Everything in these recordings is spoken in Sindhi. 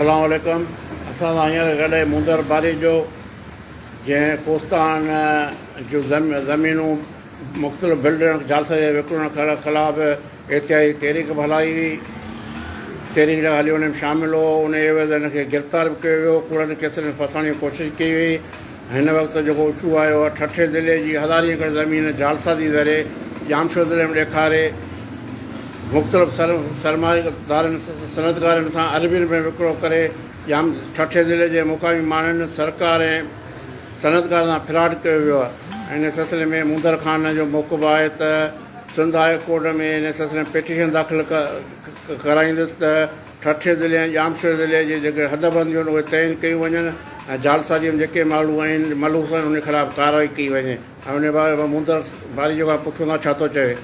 سلام عليڪم اسان سان هينئر گڏ مونڌر باريجو جنهن ڪوستان جون زمينون مختلف بلڊرن جعلسازي جي وڪڻڻ خلاف احتجاجي تحريڪ به هلائي هئي تحريڪ جا هليو هن ۾ شامل هو ان عيوض هن کي گرفتار به ڪيو ويو ڪوڙن ڪيسن ۾ ڦاسائڻ جي ڪوشش ڪئي وئي هن وقت جيڪو اڇو آيو آهي، ٺٽي ضلعي جي هزارين ايڪڙ زمين جالسا جي ذري ڄامشوري ضلعي ۾ ڏيکاري مختلف سرمائيدارن صنعتڪارن سان اربين رپين وڪرو ڪري ڄام ٺٽي ضلعي جي مقامي ماڻهن سرڪار ۽ صنعتڪارن سان فراڊ ڪيو ويو آهي ان سلسلي ۾ موندر خان جو موقف آهي ته سنڌ هاء ڪورٽ ۾ ان سلسلي ۾ پيٽيشن داخل ڪرائيندس ته ٺٽي ضلعي ۽ ڄامشوري ضلعي جي جيڪي حدبند هجن اهي تعين ڪيون وڃن ۽ جعلسازيء ۾ جيڪي ماڻهو آهن ملوث آهن انهن خلاف ڪارروائي ڪئي وڃي ۽ انهي بابت مان مونڌر ماريجو کان پڇون ٿا ڇا ٿو چوي.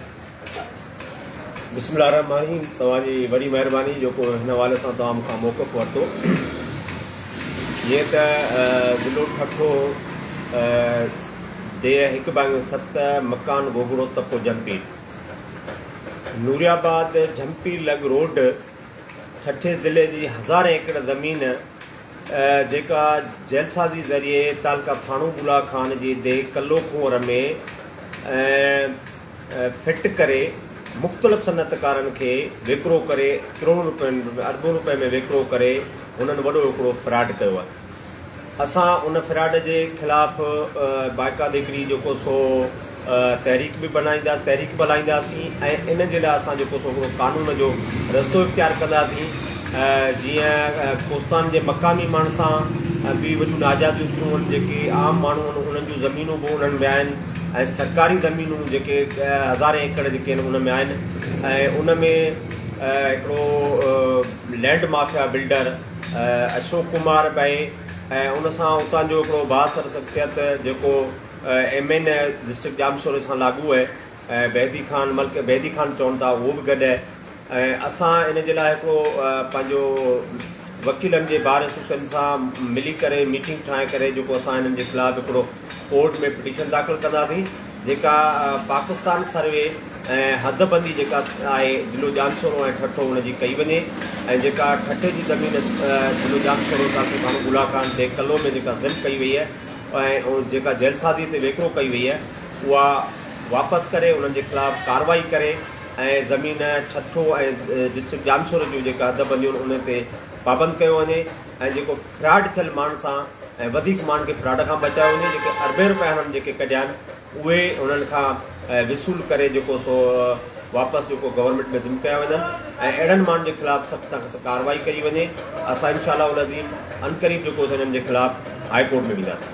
بسم الله الرحمٰن الرحيم توهان جي وڏي مهرباني جو ڪو هن حوالي سان توهان مون کان موقف ورتو جيئن ته ضلعو ٺٽو ڊيهه هڪ بانگي ست مڪان گوگڙو تپو جمپير نوريآباد جهمپي لڳ روڊ ٺٽي ضلعي جي هزارين ايڪڙ زمين جيڪا جعلسازي ذريعي تعلقه ٿاڻو بلهه خان جي دي ڪلو ڪنور ۾ فٽ ڪري مختلف صنعتڪارن کي وڪرو ڪري ڪروڙن روپين اربون روپين ۾ وڪرو ڪري هنن وڏو هڪڙو فراڊ ڪيو آهي اسان ان فراڊ جي خلاف بائيڪا ديڪري جيڪو سو تحريڪ به بنائيندا تحريڪ به هلائينداسين ۽ ان جي لاء اسان جيڪو سو هڪڙو قانون جو رستو اختيار ڪنداسين جيئن ڪوستان جي مقامي ماڻهن سان به وڏيون ناجائزيون ٿيون هن جيڪي عام ماڻهو آهن انهن جون زمينون به انهن ۾ آهن ۽ سرڪاري زمينون جيڪي هزارين ايڪڙ جيڪي آهن ان ۾ آهن ۽ ان ۾ هڪڙو land mafia builder Ashok Kumar ٻئي ۽ ان سان اتان جو هڪڙو بااثر شخصيت جيڪو ايم اين اي ڊسٽرڪٽ ڄامشوري سان لاڳو اهي ۽ بيدي خان ملڪ بيدي خان چون ٿا اهو به گڏ اهي ۽ اسان ان جي لاء هڪڙو پنهنجو وڪيلن جي بار ايسوسيئن سان ملي ڪري ميٽنگ ٺاهي ڪري جيڪو اسان هنن جي خلاف هڪڙو ڪورٽ ۾ پٽيشن داخل ڪنداسين جيڪا پاڪستان سروي ۽ حد بندي جيڪا آهي ضلعو ڄامشورو ۽ ٺٽو ان جي ڪئي وڃي ۽ جيڪا ٺٽي جي زمين ضلعو ڄامشورو تعلقي ڀاڻو بولا خان ڊي ڪلو ۾ جيڪا ضم ڪئي وئي آهي ۽ جيڪا جعلسازي تي ويڪرو ڪئي وئي آهي اها واپس ڪري انهن جي خلاف ڪارروائي ڪري ۽ زمين ٺٽو ۽ ڊسٽرڪٽ ڄامشورو جون جيڪا حد بنديون ان تي پابند ڪيو وڃي ۽ جيڪو فراڊ ٿيل ماڻهن سان ۽ وڌيڪ ماڻهن کي فراڊ کان بچايو وڃي جيڪي اربين روپيا هنن جيڪي ڪڍيا آهن اهي هنن کان وصول ڪري جيڪو سو واپس جيڪو گورنمينٽ ۾ ضم ڪيا وڃن ۽ اهڙن ماڻهن جي خلاف سخت کان سخت ڪارروائي ڪئي وڃي اسان انشاء الله العظيم عنقريب جيڪو سو هنن جي خلاف هاء ڪورٽ ۾ وينداسين